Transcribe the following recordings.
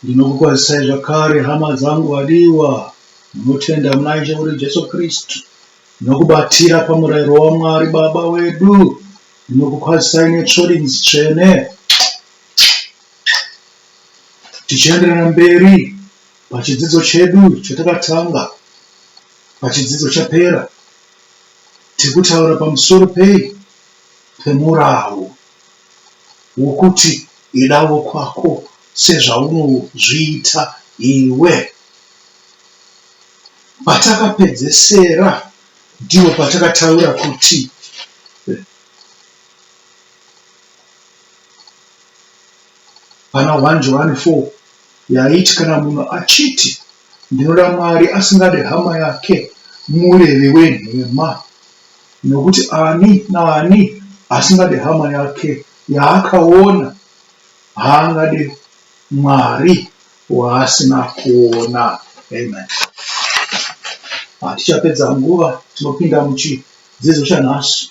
Ndinokukwazisai zvakare, hama dzangu vadiwa, munotenda muna Ishe wedu Jesu Kristu nokubatira pamurayiro waMwari Baba wedu. Ndinokukwazisai netsvorinzi tsvene, tichienderera mberi pachidzidzo chedu chatakatanga pachidzidzo chapera, tiri kutaura pamusoro pei? Pemurau. wokuti idavo kwako sezvaunozviita iwe. Patakapedzesera ndipo patakataura kuti pana 1 Johani 4 yaiti kana munhu achiti Ndinoda Mwari asingade hama yake murevi wenhema, nokuti ani naani asingade hama yake yaakaona haangade Mwari waasina kuona. Amen. Hatichapedza nguva, tinopinda muchidzidzo chanhasi.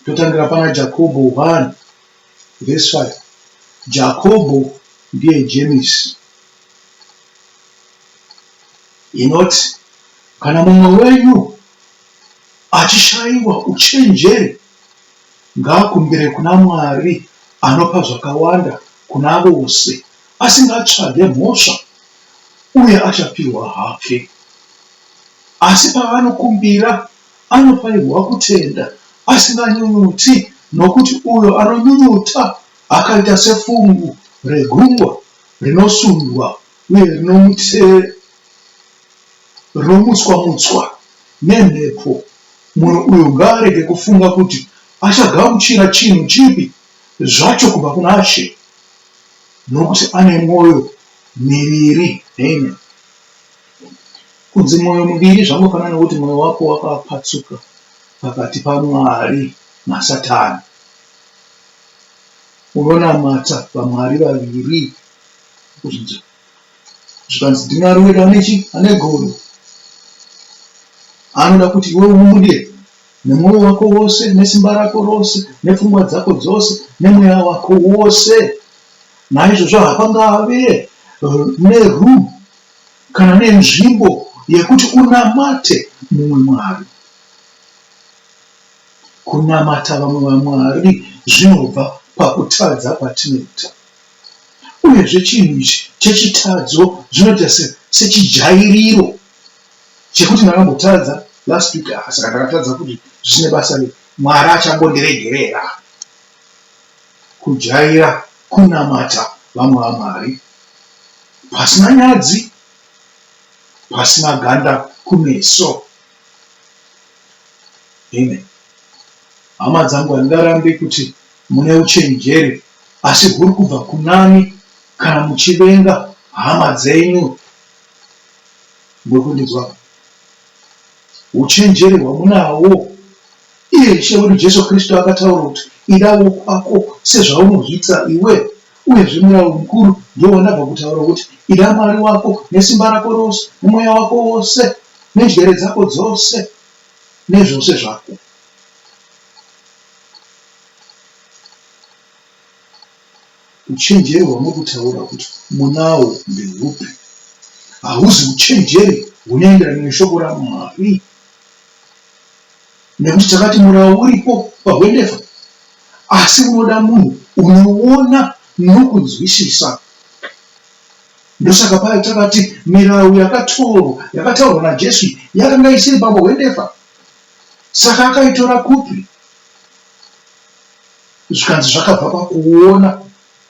Totangira pana Jakobho 1. Verse 5 Jakobho ndiye Jemisi inoti kana mumwe wenyu achishaiwa uchenjeri ngaakumbire kuna Mwari anopa zvakawanda kuna vose asingatsvage mhosva uye achapihwa hake asi paanokumbira Anofanirwa kutenda asinganyunyuti, nokuti uyo anonyunyuta akaita sefungu regungwa rinosundwa uye rinomutswa-mutswa nemhepo. Munhu uyo ngaarege kufunga kuti achagamuchira chinhu chipi zvacho kubva kuna She, nokuti ane mwoyo miviri. Amen. Kunzi mwoyo muviri zvangofanana nokuti mwoyo wako wakapatsuka pakati paMwari naSatani. Unonamata vamwari vaviri kuzvinzi zvikanzi ndiMwari wedu ane chi ane godo anoda kuti iwe umudye nemwoyo wako wose nesimba rako rose nepfungwa dzako dzose nemweya wako wose naizvozvo hapangave neroom kana nenzvimbo yekuti unamate mumwe mwari. Kunamata vamwe vamwari zvinobva pakutadza kwatinoita. Uyezve chinhu ichi chechitadzo zvinoita sechijairiro chekuti ndakambotadza last week saka ndakatadza kuti zvichine basa rei, mwari achambondiregerera. Kujaira kunamata vamwe vamwari pasina nyadzi, pasina ganda kumeso. Amen. Hama dzangu, handingarambe kuti mune uchenjeri, asi huri kubva kunani kana muchivenga hama dzenyu. Muri kundinzwa? Uchenjeri hwamunahwo Iye Ishe wedu Jesu Kristu akataura kuti, Ida wokwako sezvaunozviitira iwe. Uyezve murau mukuru ndiwo wandabva kutaura wokuti, Ida Mwari wako nesimba rako rose, nemweya wako wose, nenjere dzako dzose, nezvose zvako. Uchenjeri hwamuri kutaura kuti munawo ndehupi? Hahuzi uchenjeri hunoenderana neshoko raMwari. nekuti takati murawo uripo pahwendefa asi unoda munhu unoona nokunzwisisa ndosaka paya takati mirawo yakatoro yakataurwa naJesu yakanga isiri pamahwendefa saka akaitora kupi zvikanzi zvakabva pakuona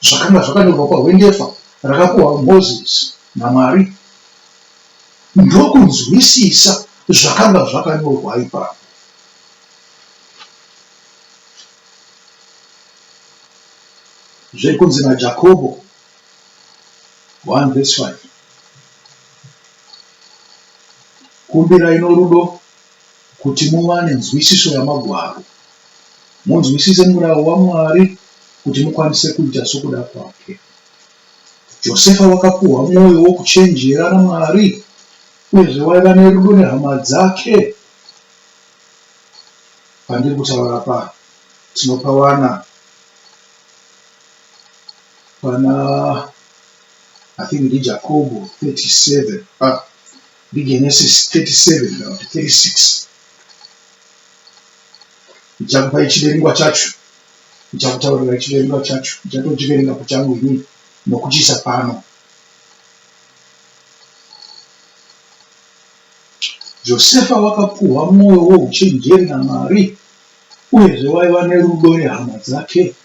Zvakanga zvakanyorwa pahwendefa rakapuhwa Mozisi naMwari. Ndokunzwisisa zvakanga zvakanyorwa ipapo. Zviri kunzi naJakobo 1 vs 5. Kumbirai norudo. Kuti muwane nzwisiso yaMagwaro, munzwisise murau waMwari kuti mukwanise kuita sokuda kwake. Josefa wakapiwa mwoyo wokuchenjera naMwari uyezve waiva nerudo nehama dzake. Pandiri kutaura apa, tinopawana pana, I think ndiJakobho 37. Ah. NeGenesis 37 kana kuti 36 ndichakupai chiverengwa chacho, ndichakutaurirai chiverengwa chacho, ndichatochiverenga pachangu ini nokuchiisa pano. Josefa wakapuhwa mwoyo wouchenjeri naMwari, uyezve waiva nerudo nehama dzake.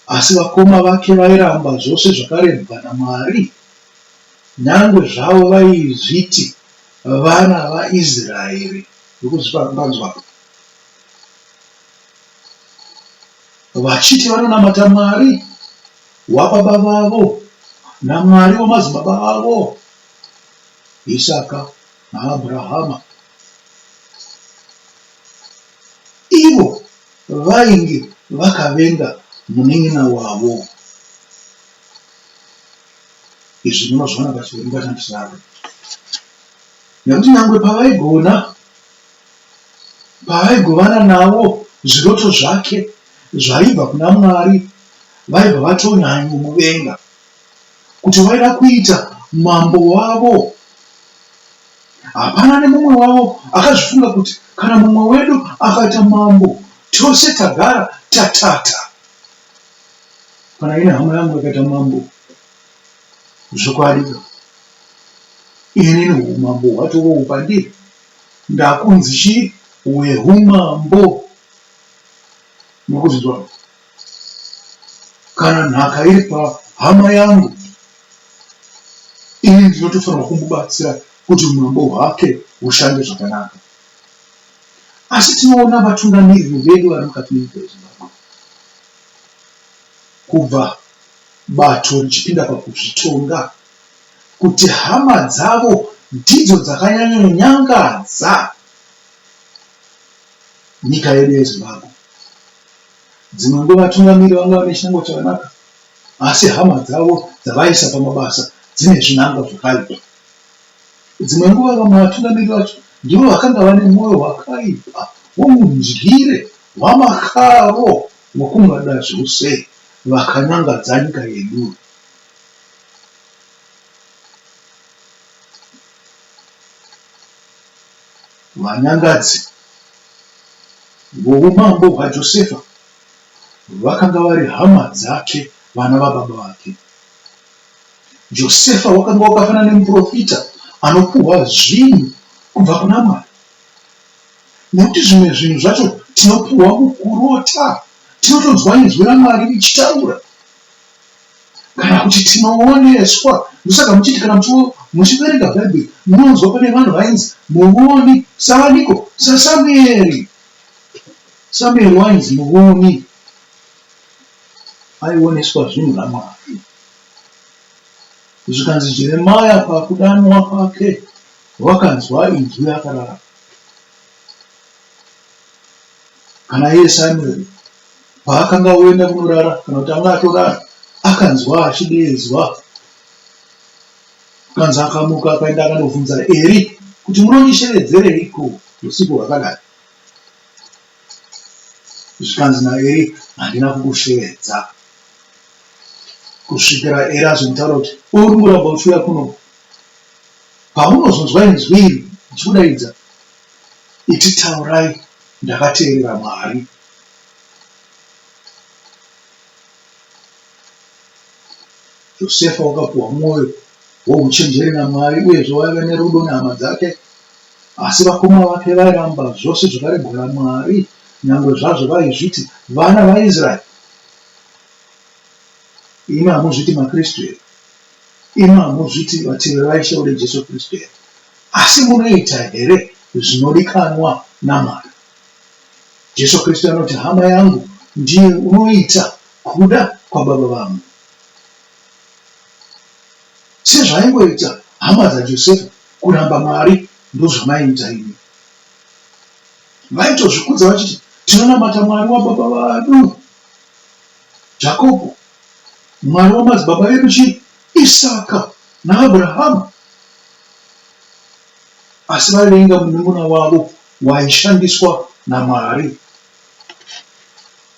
Asi vakoma vake vairamba zvose zvakarebwa naMwari. Kunyangwe zvavo vaizviti vana vaIsraeri vekuzvipanduka, vachiti vanonamata Mwari wababa vavo naMwari wamadzibaba avo, Isaka naAbrahama, ivo vainge vakavenga munin'ina wavo. Izvi munozviona pachiverengo chandisvaka nekuti nyangwe pavaigona pavaigovana navo zviroto zvake zvaibva kuna mwari vaibva vatonyanyomuvenga kuti vaida kuita mambo wavo hapana nemumwe wavo akazvifunga kuti kana mumwe wedu akaita mambo tose tagara tatata Kana ine hama yangu yakaita mambo zvokwadi ini humambo hwatovo pandiri ndakunzi chii wehumambo nokuzvinzwa kana nhaka iri pahama yangu ini ndinotofanirwa kumbobatsira kuti umambo hwake hushande zvakanaka Asi tinoona vatungamiriri vedu vari mukati menyika yeZimbabwe kubva bato richipinda pakuzvitonga kuti hama dzavo ndidzo dzakanyanyonyangadza nyika yedu yeZimbabwe. Dzimwe nguva vatungamiriri vanga vane chinangwa chakanaka asi hama dzavo dzavaisa pamabasa dzine zvinangwa zvakaipa. Dzimwe nguva vamwe vatungamiri vacho ndivo vakanga vane mwoyo wakaipa womudyire hwamakaro wokungada zvose vakanyangadza nyika yedu. Vanyangadzi voumambo hwaJosefa vakanga vari hama dzake, vana vababa vake. Josefa wakanga wakafanana nemuprofita anopuhwa zvinhu kubva kuna Mwari. Nekuti zvimwe zvinhu zvacho tinopuhwa mukurota, tinotonzwa inzwi raMwari richitaura kana kuti tinooneswa. Ndosaka muchiti kana muchiverenga Bhaibheri munonzwa pane vanhu vainzi muvoni savaniko? SaSamueri. Samueri wainzi muvoni. aioneswa zvinhu naMwari. Zvikanzi Jeremia pakudanwa kwake wakanzwa inzwi rakarara. Kana iye Samueri paakanga oenda kunorara kana kuti anga atorara akanzwa achideedzwa kanzi akamuka akaenda akandobvunza Eri kuti munondishevedzereiko usiku hwakadai. zvikanzi naEri handina kukushevedza kusvikira Eri azonditaura kuti uri kumboramba uchiuya kuno paunozonzwa inzwi iri uchikudaidza iti taurai ndakateerera mwari Josefa wakapuwa mwoyo wouchenjeri naMwari uyezve waiva nerudo nehama dzake. Asi vakoma vake vairamba zvose zvakaregwa naMwari, nyangwe zvazvo vaizviti vana vaIsraeri. Imi hamuzviti maKristu here? Imi hamuzviti vateveri vaIshe wedu Jesu Kristu here? Asi munoita here zvinodikanwa naMwari? Jesu Kristu anoti, Hama yangu ndiye unoita kuda kwaBaba vangu. Sezvaingoita hama dzaJosefa kuramba Mwari, ndozvamaiita imi. Vaitozvikudza vachiti, Tinonamata Mwari wababa vadu Jakobo, Mwari wamadzibaba edu chii, Isaka naAbrahama. Asi vaivenga munun'una wavo waishandiswa naMwari,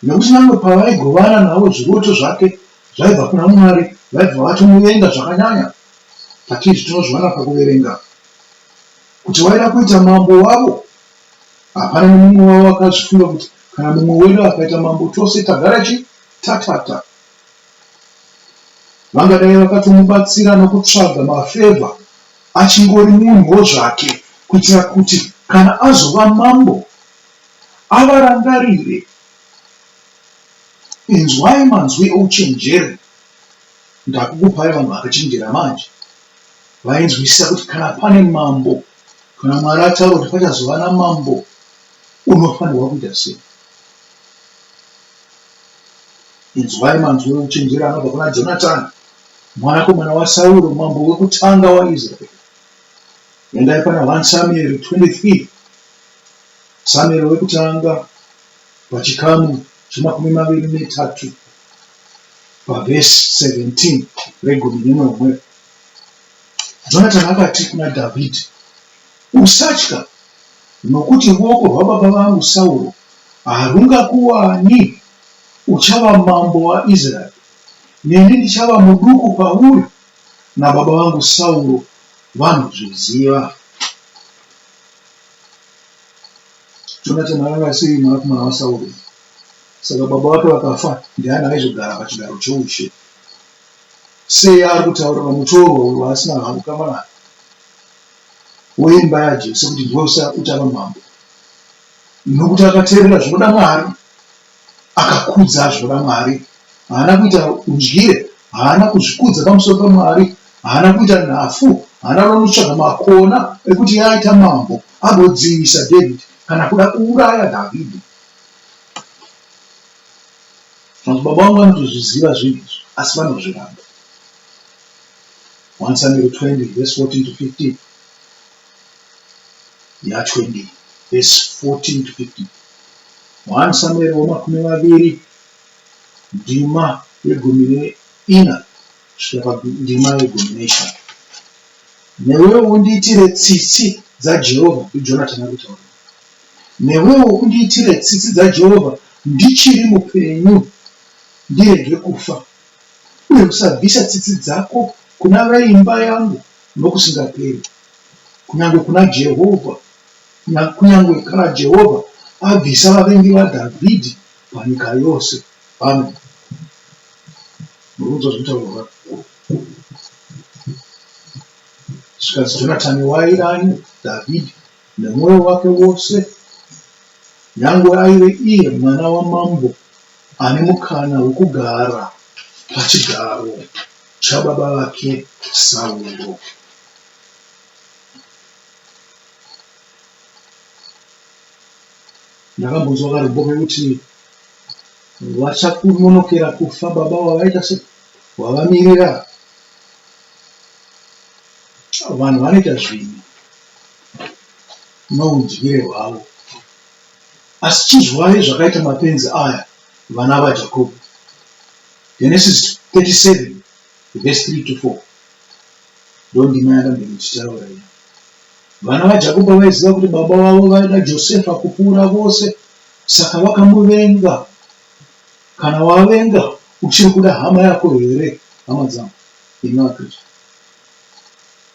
nekuti nyangwe pavaigovana navo zviroto zvake zvaibva kuna Mwari vaibva vatomuvenga zvakanyanya. Patizvi tinozviwana pakuverenga kuti waida kuita mambo wavo. Hapana nemumwe wavo akazvifunga kuti kana mumwe wedu akaita mambo tose tagara chi tatata. Vangadai vakatomubatsira nokutsvaga mafevha achingori munhuwo zvake kuitira kuti kana azova mambo avarangarire. Inzwai manzwi ouchenjeri, ndakukupai vanhu vakachenjera manje. Vainzwisisa kuti kana pane mambo, kana Mwari ataura kuti pachazova namambo, unofanirwa kuita sei. Inzwai manzwi ouchenjeri anobva kuna Jonatani. Mwanakomana waSauro, mambo wekutanga waIsraeri. Endai pana 1 Samueri 23, Samueri wekutanga pachikamu chemakumi maviri netatu pavhesi 17 regumi nenomwe. Jonatani akati kuna Dhavhidhi, Usatya, nokuti ruoko rwababa vangu Sauro harungakuwani, uchava mambo waIsraeri. Neni ndichava muduku kwauri, nababa vangu Sauro vanozviziva. Jonatani akanga asiri mwanakomana waSauro, saka baba vake vakafa, ndiani aizogara pachigaro choushe? Sei ari kutaurira mutorwa uyo waasina havo kama naye weimba yaJese kuti ndiwe uchava mambo? Nokuti akateerera zvinoda Mwari. Akakudza zvo vaMwari. Haana kuita udyire. Haana kuzvikudza pamusoro paMwari. Haana kuita nhafu. Haana kuda kunotsvaga makona ekuti iye aita mambo agodzivisa David kana kuda kuuraya David. Madzibaba vangu vanotozviziva zvinhu izvi asi vanozviramba. 1 Samuel 20 verse 14 to 15. ya20 vhesi 14 to 15 1 samueri wamakumi maviri ndima yegumi neina kusvika pandima yegumi neishanu newewo undiitire tsitsi dzajehovha ndijonatani ari kutaura newewo undiitire tsitsi dzajehovha ndichiri mupenyu ndirege kufa uye usabvisa tsitsi dzako kuna veimba yangu nokusingaperi, kunyange kuna Jehovha, kunyange kana Jehovha abvisa vavengi vaDhavhidhi panyika yose. Amen. Murudzo zvitaurwa vakuru. Zvikanzi Jonatani wairani Dhavhidhi nemwoyo wake wose, nyangwe aive iye mwana wamambo ane mukana wekugara pachigaro Chababa vake Sauro. Ndakambonzwa karombo kekuti vachakunonokera kufa baba wavaita se wavamirira vanhu vanoita zvinhu noudyire hwavo asi chizwai zvakaita mapenzi aya vana vaJakobo, Genesis 37 verse 3 to 4 ndondima yakambenge ichitaura iyi. Vana vaJakobo vaiziva kuti baba vavo vaida Josefa kupfuura vose, saka vakamuvenga. Kana wavenga uchiri kuda hama yako here, hama dzangu? Imi vaKristu,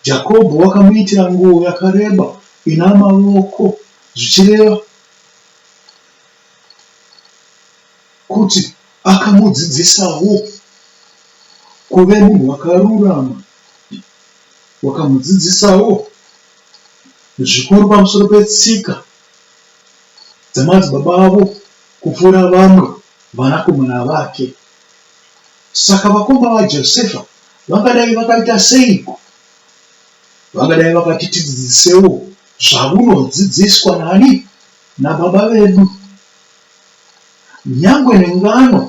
Jakobo wakamuitira nguo yakareba ina mavoko, zvichireva kuti akamudzidzisawo kuve munhu wakarurama wakamudzidzisawo zvikuru pamusoro petsika dzamadzibaba avo kupfuura vamwe vanakomana vake saka vakoma vajosefa vangadai vakaita seiko vangadai vakati tidzidzisewo zvaunodzidziswa nani naBaba vedu, nyangwe nengano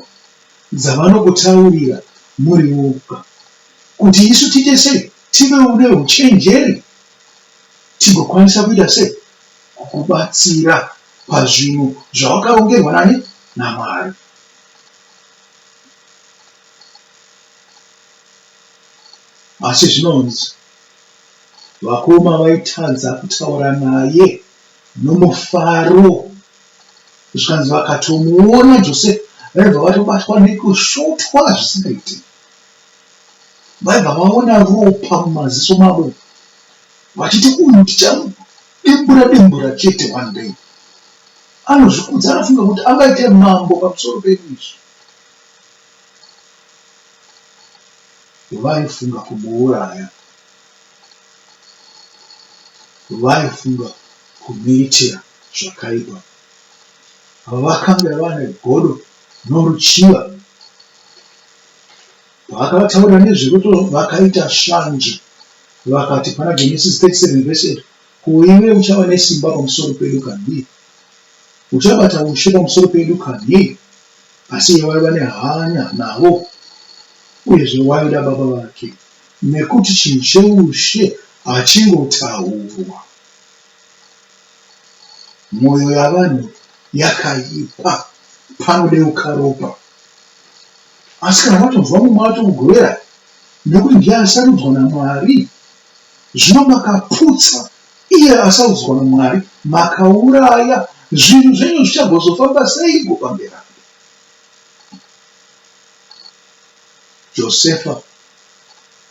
dzavanokutaurira muri voga, kuti isu tiite sei? Tivewo neuchenjeri tigokwanisa kuita sei? Kukubatsira pazvinhu zvawakarongerwa nani? NaMwari. Asi zvinonzi vakoma vaitadza kutaura naye. nomufaro zvikanzi vakatomuona Jose vaibva vatobatwa nekusvotwa zvisingaiti. Vaibva vaona ropa mumaziso mavo vachiti uyu ndichamudimbura dimbura chete one day. Anozvikudza anofunga kuti angaite mambo pamusoro pedu izvi. Vaifunga kumuuraya. vaifunga kumuitira zvakaipa. Ava vakange vane godo noruchiva. Paakavataurira nezverudo vakaita shanje vakati pana Genesis 37 verse 8 ko iwe uchava nesimba pamusoro pedu kanhi? Uchabata ushe pamusoro pedu kanhi? Asi iye waiva nehanya navo uyezve waida baba vake. Nekuti chinhu cheushe hachingotaurwa. Moyo yavanhu yakaipa panodeuka ropa. Asi kana matonzwa mumwe atomugovera nekuti ndiye asarudzwa naMwari zvino makaputsa iye asarudzwa naMwari makauraya zvinhu zvenyu zvichagozofamba seiko pamberi apo. Josefa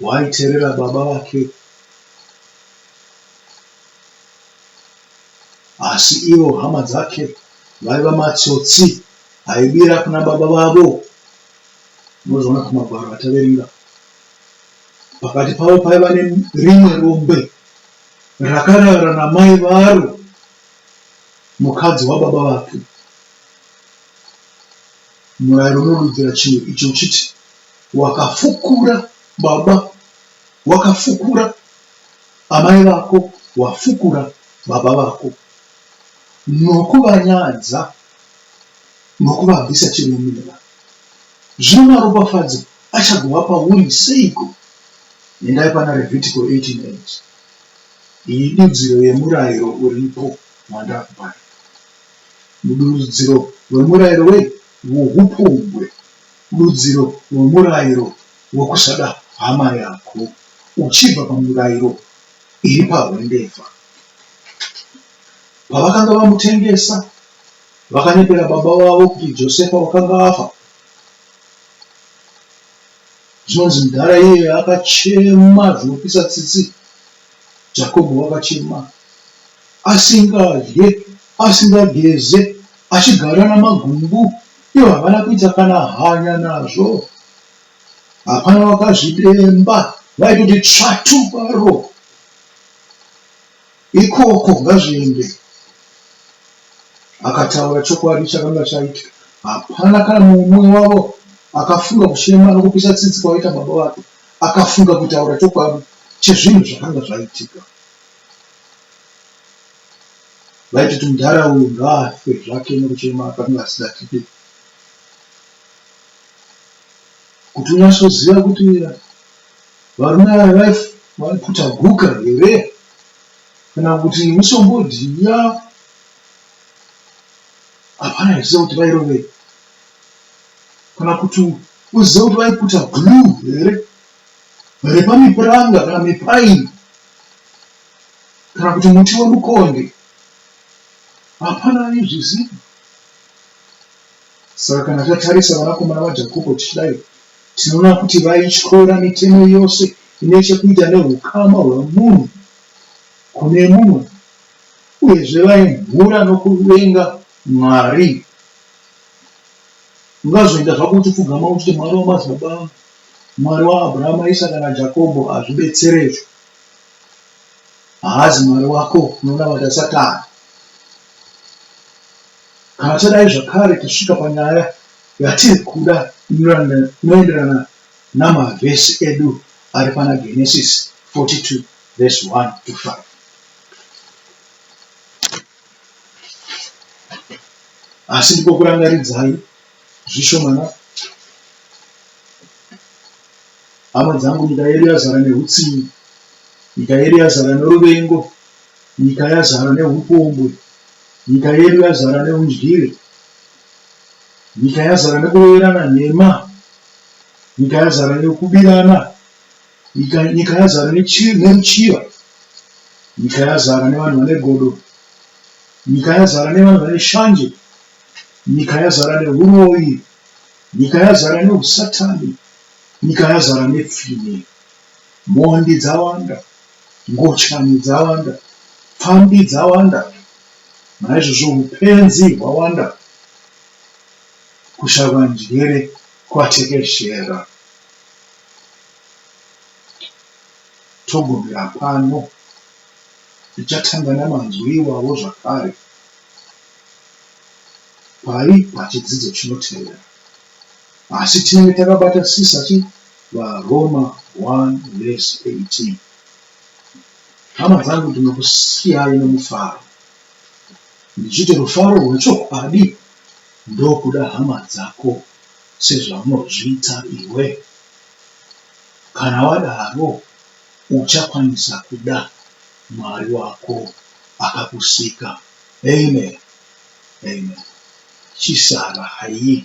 waiterera baba vake asi ivo hama dzake vaiva matsotsi aibira kuna baba vavo unozoona kumagwaro ataverenga pakati pavo paiva nerimwe rombe rakarara namai varo mukadzi wababa vake Murairo unodudzira chinhu ichi uchiti, Wakafukura baba, wakafukura amai vako, wafukura baba vako, nokuvanyadza nokuvabvisa chiremera. Zvino maropafadzo achagova pauri seiko? Endai pana Revhitiko 18:8. Iyi idudziro yemurairo uripo wandakupai. Mudurudziro wemurairo wei? Wohupombwe. Durudziro wemurairo wekusada hama yako uchibva pamirairo iri pahwendefa. Pavakanga vamutengesa, vakanyepera baba vavo kuti Josefa wakanga afa. Zvinonzi mudhara iyeye akachema zvinopisa tsitsi. Jakobho wakachema, asingadye, asingageze, achigara namagumbu, ivo havana kuita kana hanya nazvo. Hapana wakazvidemba, vaitoti tsvatu kwaro. Ikoko ngazviende. Akataura chokwadi chakanga chaitika. Hapana kana mumwe wavo akafunga kuchema nokupisa tsitsi kwaiita baba vake. Akafunga kutaura chokwadi chezvinhu zvakanga zvaitika. Vaitoti mudhara uyu ngaafe zvake nekuchema apa akanga asida tipe kuti unyasoziva kuti varume ava vaiputa guka here kana kuti misombodhiya hapana achiziva kuti vairovei kana kuti uzive kuti vaikuta glue here repamipuranga kana mipaini kana kuti muti wemukonde hapana aizviziva saka kana tatarisa vanakomana vajakobo tichidai tinoona kuti vaityora mitemo yose ine chekuita neukama hwemunhu kune mumwe uyezve vaimhura nokuvenga mwari Ungazoita zvako uchipfugama uchiti Mwari wamadzibaba angu, Mwari waAbrahama, Isaka naJakobho hazvibetsere izvo. Haazi Mwari wako, unonamata Satani. Kana tadai zvakare tasvika panyaya yatiri kuda inoenderana namavhesi edu ari pana Genesis 42 vhesi 1 to 5. Asi ndikokurangaridzai zvishomana, hama dzangu, nyika yedu yazara nehutsinye, nyika yedu yazara noruvengo, nyika yazara nehupombwe, nyika yedu yazara neundyire, nyika yazara nekuroverana nhema, nyika yazara nekubirana Nyika, nyika yazara nechi, neruchiva. Nyika yazara nevanhu vane godo. Nyika yazara nevanhu vane shanje. Nyika yazara nehuroyi. Nyika yazara neusatani. Nyika yazara nepfini. Mhondi dzawanda. Ngochani dzawanda. Pfambi dzawanda. Naizvozvo upenzi hwawanda. Kushava njere kwatekeshera. Togumira pano, tichatanga namanzwi iwawo zvakare pari pachidzidzo chinotevera. Asi tinenge takabatasisa chi VaRoma 1 vhesi 18. Hama dzangu, ndinokusiyai nomufaro, ndichiti rufaro rwechokwadi ndokuda hama dzako. sezvaunozviita iwe? Kana wadaro, uchakwanisa kuda Mwari wako akakusika. Amen. Amen. Chisara haii.